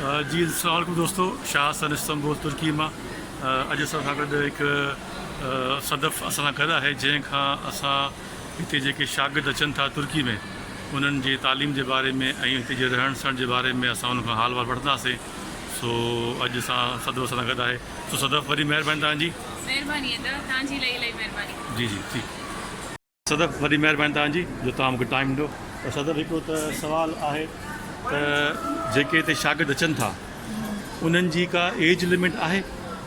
جي السلام عليڪم دوستو شاهه حسن استنبول ترڪي مان اڄ اسان سان گڏ هڪ صدف اسان سان گڏ آهي جنهن کان اسان هتي جيڪي شاگرد اچن ٿا ترڪي ۾ انهن جي تعليم جي باري ۾ ۽ هتي جي رهڻ سهڻ جي باري ۾ اسان انهن کان حال وال وٺنداسين سو اڄ اسان صدف اسان سان گڏ آهي سو صدف وڏي مهرباني تنهنجي مهرباني ادا تنهنجي لئي لئي مهرباني جي جي ٺيڪ صدف وڏي مهرباني توهان جي جو توهان مونکي ٽائيم ڏنو پر صدف هڪڙو ته سوال آهي ته جيڪي هتي شاگرد اچن ٿا انهن جي ڪا ايج لمٽ آهي؟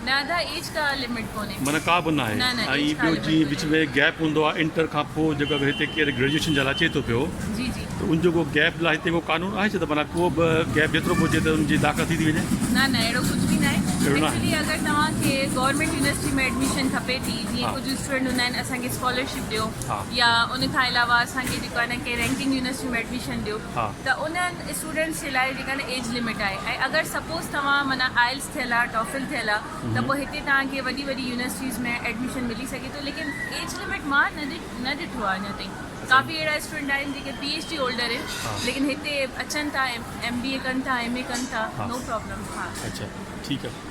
نه ادا ايج ڪا لمٽ ڪونهي معنيٰ ڪا به ناهي نه نه ايج ڪا لمٽ ڪونهي ۽ ٻيو جي وچ ۾ گيپ هوندو آهي انٽر کان پوء جيڪو هتي ڪير گريجوئيشن جي لاء اچي ٿو پيو جي جي ته ان جو ڪو گيپ لاء هتي ڪو قانون آهي ڇا ته معنيٰ ڪو به گيپ جيترو به هجي ته ان جي داخلا ٿي ٿي وڃي نه نه اهڙو ڪجهه به ناهي اهڙو ناهي ايڪچولي اگر توهان کي گورنمينٽ يونيورسٽي ۾ ايڊميشن کپي ٿي جيئن ڪجهه اسٽوڊنٽ هوندا آهن اسان کي اسڪالرشپ ڏيو يا ان کان علاوه اسان کي جيڪو آهي ڪنهن رينڪنگ يونيورسٽي ۾ ايڊميشن ڏيو ته انهن اسٽوڊنٽس جي لاء جيڪا آهي ايج لمٽ آهي ۽ اگر سپوز توهان معنيٰ آئلس ٿيل آهي ٽافل ٿيل آهي ته پوء هتي توهان کي وڏي وڏي يونيورسٽيز ۾ ايڊميشن ملي سگهي ٿو ليڪن ايج لمٽ مان نه ڏٺو آهي اڃا تائين ڪافي اهڙا اسٽوڊنٽ آهن جيڪي پي ايڇ ڊي هولڊر آهن ليڪن هتي اچن ٿا ايم بي اي ڪن ٿا ايم اي ڪن ٿا نو پرابلم ٺيڪ آهي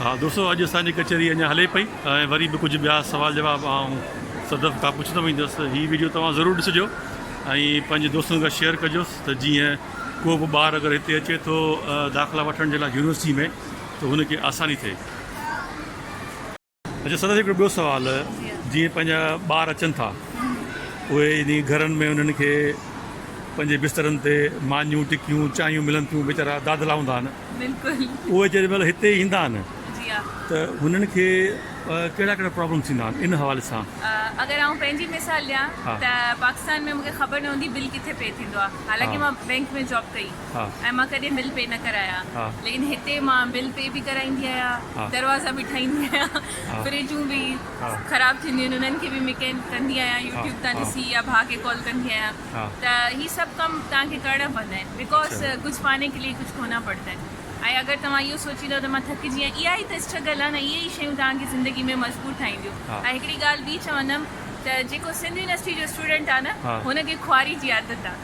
ها دوستو اڄ اسان جي ڪچهري اڃا هلي پئي ۽ وري به ڪجهه ٻيا سوال جواب آئون صدف کان پڇندو ويندس هي ويڊيو توهان ضرور ڏسجو ۽ پنهنجي دوستن کان شيئر ڪجوس ته جيئن ڪو به ٻار اگر هتي اچي ٿو داخلا وٺڻ جي لاء يونيورسٽي ۾ ته هن کي آساني ٿئي. اچو سندس هڪڙو ٻيو سوال جيئن پنهنجا ٻار اچن ٿا اهي يعني گهرن ۾ انهن کي پنهنجي بسترن تي مانيون ٽڪيون چانهيون ملن ٿيون ويچارا دادلا هوندا آهن بلڪل اهي جڏهن مهل هتي ايندا آهن جي ها ته هنن کي ڪهڙا ڪهڙا پرابلم ٿيندا آهن ان حوالي سان اگر آئون پنهنجي مثال ڏيان ته پاڪستان ۾ مونکي خبر نه هوندي بل ڪٿي پي ٿيندو آهي حالانڪه مان بينڪ ۾ جاب ڪئي ۽ مان ڪڏهن بل پي نه ڪرايا ليڪن هتي مان بل پي به ڪرائيندي آهيان دروازا به ٺاهيندي آهيان فريجون به خراب ٿينديون آهن انهن کي به مڪينڪ ڪندي آهيان يوٽيوب تان ڏسي يا ڀاء کي ڪال ڪندي آهيان ته هي سڀ ڪم تان کي ڪرڻا پوندا آهن بڪاز ڪجهه پاني کي لي ڪجهه کونا پڙتا آهن ۽ اگر توهان اهو سوچيندا ته مان ٿڪجي ويا اها ئي ته اسٽرگل آهي نه اهي ئي شيون تان کي زندگي ۾ مجبور ٺاهينديون ۽ هڪڙي ڳالهه ٻي چوندم ته جيڪو سنڌ يونيورسٽي جو اسٽوڊنٽ آهي نه هن کي خواري جي عادت آهي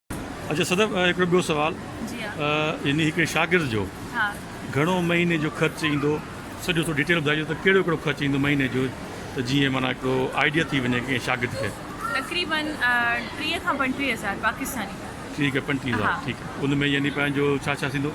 اچا صدف هڪڙو ٻيو سوال جي يعني هڪڙي شاگرد جو ها گهڻو مهيني جو خرچ ايندو سڄو ٿو ڊيٽيل ٻڌائجو ته ڪهڙو ڪهڙو خرچ ايندو مهيني جو ته جيئن معنی هڪڙو آئيڊيا ٿي وڃي ڪنهن شاگرد کي تقريبا 30 کان 35 هزار پاڪستاني ٺيڪ آهي 35 هزار ٺيڪ آهي ان ۾ يعني پنهنجو ڇا ڇا ٿيندو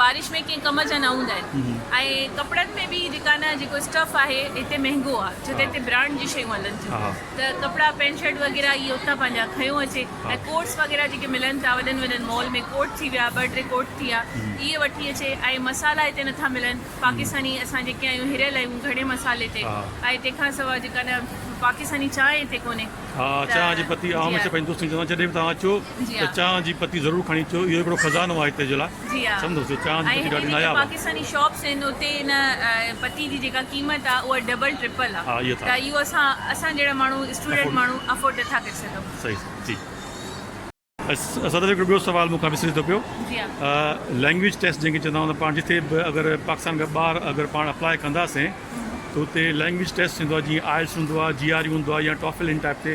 بارش ۾ ڪنهن ڪم جا نه هوندا آهن ۽ ڪپڙن ۾ به جيڪا نه جيڪو اسٽف آهي هتي مهنگو آهي ڇو ته هتي برانڊ جي شيون هلن ٿيون ته ڪپڙا پينٽ شرٽ وغيره اهي اتان پنهنجا کنيو اچي ۽ ڪوٽس وغيره جيڪي ملن ٿا وڏن وڏن مال ۾ ڪوٽ ٿي ويا ٻه ٽي ڪوٽ ٿي ويا اهي وٺي اچي ۽ مصالحا هتي نٿا ملن پاڪستاني اسان جيڪي آهيون هريل آهيون گهڻي مصالحي تي ۽ تنهن کان سواء جيڪا نه پاڪستاني چانهه هتي ڪونهي ته جي آهي ته چانهه جي پتي ضرور کڻي اچو، اهو هڪڙو خزانو آهي هتي جي لاء، سمجهو ٿيو، چانهه جي پتي ڏاڍي ناياب آهي. ها اهي ٿا. صحيح صحيح جي. صدر هڪڙو ٻيو سوال مون کان وسري ٿو پيو. لينگويج ٽيسٽ جنهن کي چوندا آهيون ته پاڻ جتي به اگر پاڪستان کان ٻاهر اگر پاڻ اپلاء ڪنداسين ته اتي لينگويج ٽيسٽ ٿيندو آهي جيئن آئلس هوندو آهي، جي آر يو هوندو آهي يا ٽافل ان ٽائيپ تي.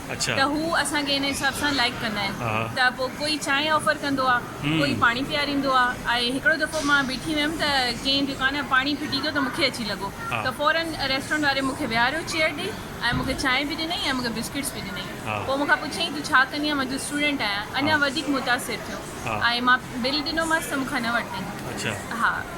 ته هو اسان کي ان حساب سان لائيڪ ڪندا آهن ته پوء ڪوئي چانهه آفر ڪندو آ ڪوئي پاڻي پياريندو آ ۽ هڪڙو دفعو مان بيٺي هيم ته ڪنهن دڪان ۾ پاڻي ڦٽي گيو ته مونکي اچي لڳو ته فورن ريسٽورنٽ واري مونکي ويهاريو چيئر ڏئي ۽ مونکي چانهه به ڏنئي ۽ مونکي بسڪٽس به ڏنئي پوء مونکان پڇيائين تون ڇا ڪندي آهين مان چيو اسٽوڊنٽ آهيان اڃا وڌيڪ متاثر ٿيو ۽ مان بل ڏنومانس ته مونکان نه ورتائين.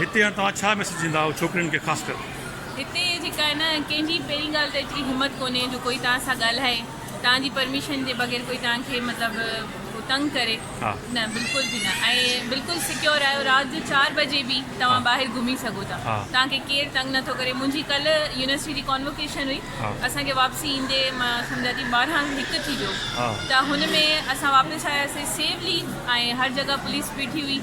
هتي هاڻ توهان ڇا ميسيج ڏينداؤ ڇوڪرين کي خاص ڪر. هتي جيڪا آهي نه ڪنهن جي پهرين ڳالهه ته ايتري همت ڪونهي جو ڪوئي توهان سان ڳالهائي توهان جي پرميشن جي بغير ڪوئي توهان کي مطلب تنگ ڪري نه بلڪل به نه ۽ بلڪل سڪيور آهيو رات جو چار بجي به توهان ٻاهر گهمي سگهو ٿا توهان کي ڪير تنگ نه ٿو ڪري منهنجي ڪلهه يونيورسٽي جي ڪانوڪيشن هئي اسان کي واپسي ايندي مان سمجهان ٿي ٻارهن هڪ ٿي ويو ته هن ۾ اسان واپس آياسي سيفلي ۽ هر جڳهه پوليس بيٺي هئي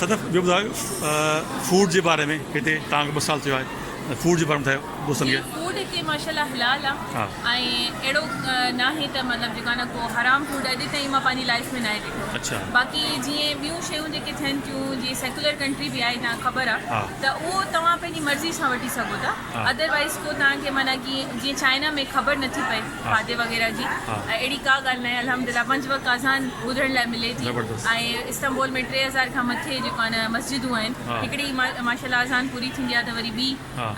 صدف ٻيو ٻڌايو فوڊ جي باري ۾ هتي تان کي ٻه سال ٿيو آهي فوڊ جي باري ۾ ٻڌايو دوستن کي. فوڊ هتي ماشاءالله حلال آ ۽ اهڙو ناهي ته مطلب جيڪو آ نه ڪو حرام فوڊ اڄ تائين مان پنهنجي لائيف ۾ ناهي ڏٺو باقي جيئن ٻيون شيون جيڪي ٿين ٿيون جيئن سيڪولر ڪنٽري به آهي تان کي خبر آ ته اهو توهان پنهنجي مرضي سان وٺي سگهو ٿا ادر وائيز ڪو تان کي معنيٰ جيئن چائنا ۾ خبر نٿي پئي کاڌي وغيره جي اهڙي ڪا ڳالهه ناهي الحمدلله پنج وقت اذان ٻڌڻ لاء ملي ٿي ۽ استنبول ۾ ٽي هزار کان مٿي جيڪو آهي نه مسجدون آهن هڪڙي ماشاءالله اذان پوري ٿيندي آهي ته وري ٻي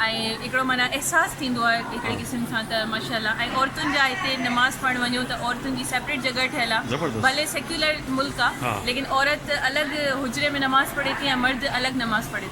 ۽ هڪڙو معنيٰ احساس ٿيندو آهي هڪڙي قسم سان ته ماشاءالله ۽ عورتن جا هتي نماز پڙهڻ وڃو ته عورتن جي سيپريٽ جڳهه ٺهيل آهي ڀلي سيڪيولر ملڪ آهي ليڪن عورت الڳ حجري ۾ نماز پڙهي ٿي ۽ مرد الڳ نماز پڙهي ٿو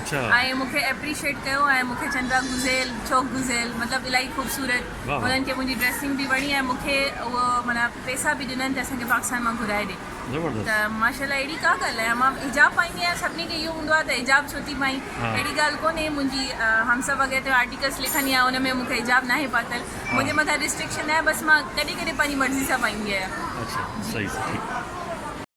۽ مون کي اپريشيٽ ڪيو ۽ مون کي چئن پيا گزيل چوڪ گزيل مطلب الاهي خوبصورت انهن کي منهنجي ڊريسنگ به وڻي ۽ مون کي اهو معنيٰ پيسا به ڏنن ته اسان کي پاڪستان مان گهرائي ڏي ته ماشاءالله اهڙي ڪا ڳالهه ناهي مان حجاب پائيندي آهيان سڀني کي اهو هوندو آهي ته حجاب ڇو ٿي پائين اهڙي ڳالهه ڪونهي منهنجي همسا وغيره تي آرٽيڪلس لکندي آهيان ان ۾ مون کي حجاب ناهي پاتل منهنجي مٿان رسٽرڪشن ناهي بس مان ڪڏهن ڪڏهن پنهنجي مرضي سان پائيندي آهيان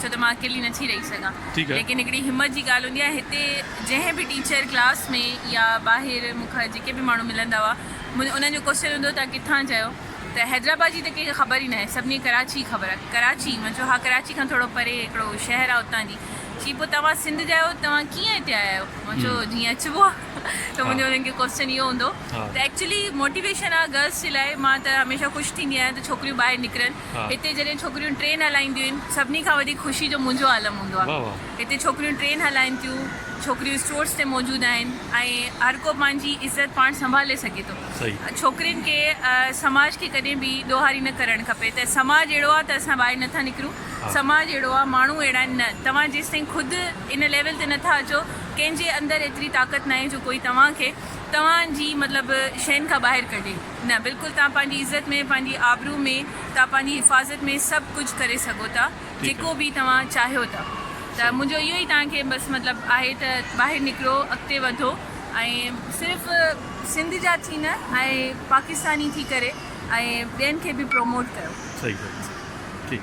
ڇو ته مان اڪيلي نٿي رهي سگهان ليڪن هڪڙي همت جي ڳالهه هوندي آهي هتي جنهن به ٽيچر ڪلاس ۾ يا ٻاهر مون کان جيڪي به ماڻهو ملندا هئا انهن جو ڪوشچن هوندو هو توهان ڪٿان جا آهيو ته حيدرآباد جي ته ڪنهن کي خبر ئي ناهي سڀني کي ڪراچي خبر آهي ڪراچي مان چيو ها ڪراچي کان ٿورو پري هڪڙو شهر آهي اتان جي چي پوء توهان سنڌ جا آهيو توهان ڪيئن هتي آيا آهيو مان چيو جيئن اچبو آهي ته منهنجو انهن کي ڪوشچن اهو هوندو هو ته ايڪچولي موٽيويشن آهي گرلس جي لاء مان ته هميشه خوش ٿيندي آهيان ته ڇوڪريون ٻاهر نڪرن هتي جڏهن ڇوڪريون ٽرين هلائينديون آهن سڀني کان وڌيڪ خوشي جو منهنجو عالم هوندو آهي. هتي ڇوڪريون ٽرين هلائين ٿيون، ڇوڪريون اسٽورز تي موجود آهن ۽ هر ڪو پنهنجي عزت پاڻ سنڀالي سگهي ٿو. ڇوڪرين کي سماج کي ڪڏهن به ڏوهاري نه ڪرڻ کپي ته سماج اهڙو آهي ته اسان ٻاهر نٿا نڪرون، سماج اهڙو آهي، ماڻهو اهڙا آهن، نه توهان جيستائين خود ان ليول تي نٿا اچو، ڪنهن جي اندر ايتري طاقت ناهي جو ڪوئي توهان کي توهان جي مطلب شين کان ٻاهر ڪڍي. نه بلڪل توهان پنهنجي عزت ۾ پنهنجي آبرو ۾ توهان پنهنجي حفاظت ۾ سڀ ڪجهه ڪري سگهو ٿا جيڪو به توهان چاهيو ٿا ته منهنجو اهو ئي توهان کي بس مطلب آهي ته ٻاهر نڪرو اڳتي وڌو ۽ صرف سنڌ جا ٿي نه ۽ پاڪستاني ٿي ڪري ۽ ٻين کي به پروموٽ ڪيو صحيح صحيح ٺيڪ.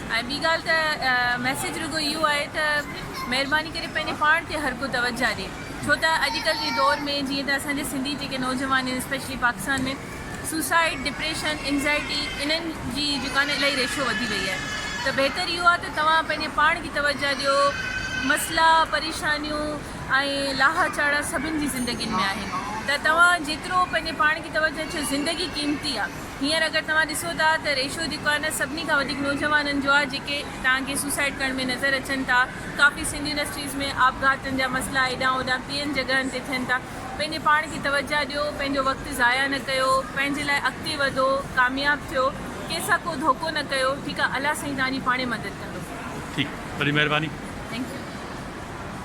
۽ ٻي ڳالهه ته ميسيج رڳو اهو آهي ته مهرباني ڪري پنهنجي پاڻ تي هر ڪو توجهه ڏي ڇو ته اڄڪلهه جي دور ۾ جيئن ته اسان جي سنڌي جيڪي نوجوان آهن especially Pakistan ۾ suicide depression anxiety انهن جي جيڪا نه الائي ريشو وڌي وئي آهي ته بهتر اهو آهي ته توهان پنهنجي پاڻ کي توجهه ڏيو مسئلا پريشانيون ۽ لاها چاڙها سڀن جي زندگين ۾ آهن ته توهان جيترو پنهنجي پاڻ کي توجهه ڇو زندگي قيمتي آهي. هينئر اگر توهان ڏسو ٿا ته ريشو جيڪو آهي نه سڀني کان وڌيڪ نوجوانن جو آهي جيڪي توهان کي سوسائيڊ ڪرڻ ۾ نظر اچن ٿا. ڪافي سنڌ يونيورسٽيز ۾ آپگهاتن جا مسئلا هيڏانهن هوڏانهن ٻين جڳهن تي ٿين ٿا. پنهنجي پاڻ کي توجهه ڏيو، پنهنجو وقت ضايع نه ڪيو، پنهنجي لاء اڳتي وڌو، ڪامياب ٿيو، ڪنهن سان ڪو ڌوڪو نه ڪيو، ٺيڪ آهي الله سائين توهان جي پاڻهي مدد ڪندو. ٺيڪ وڏي مهرباني. Thank you.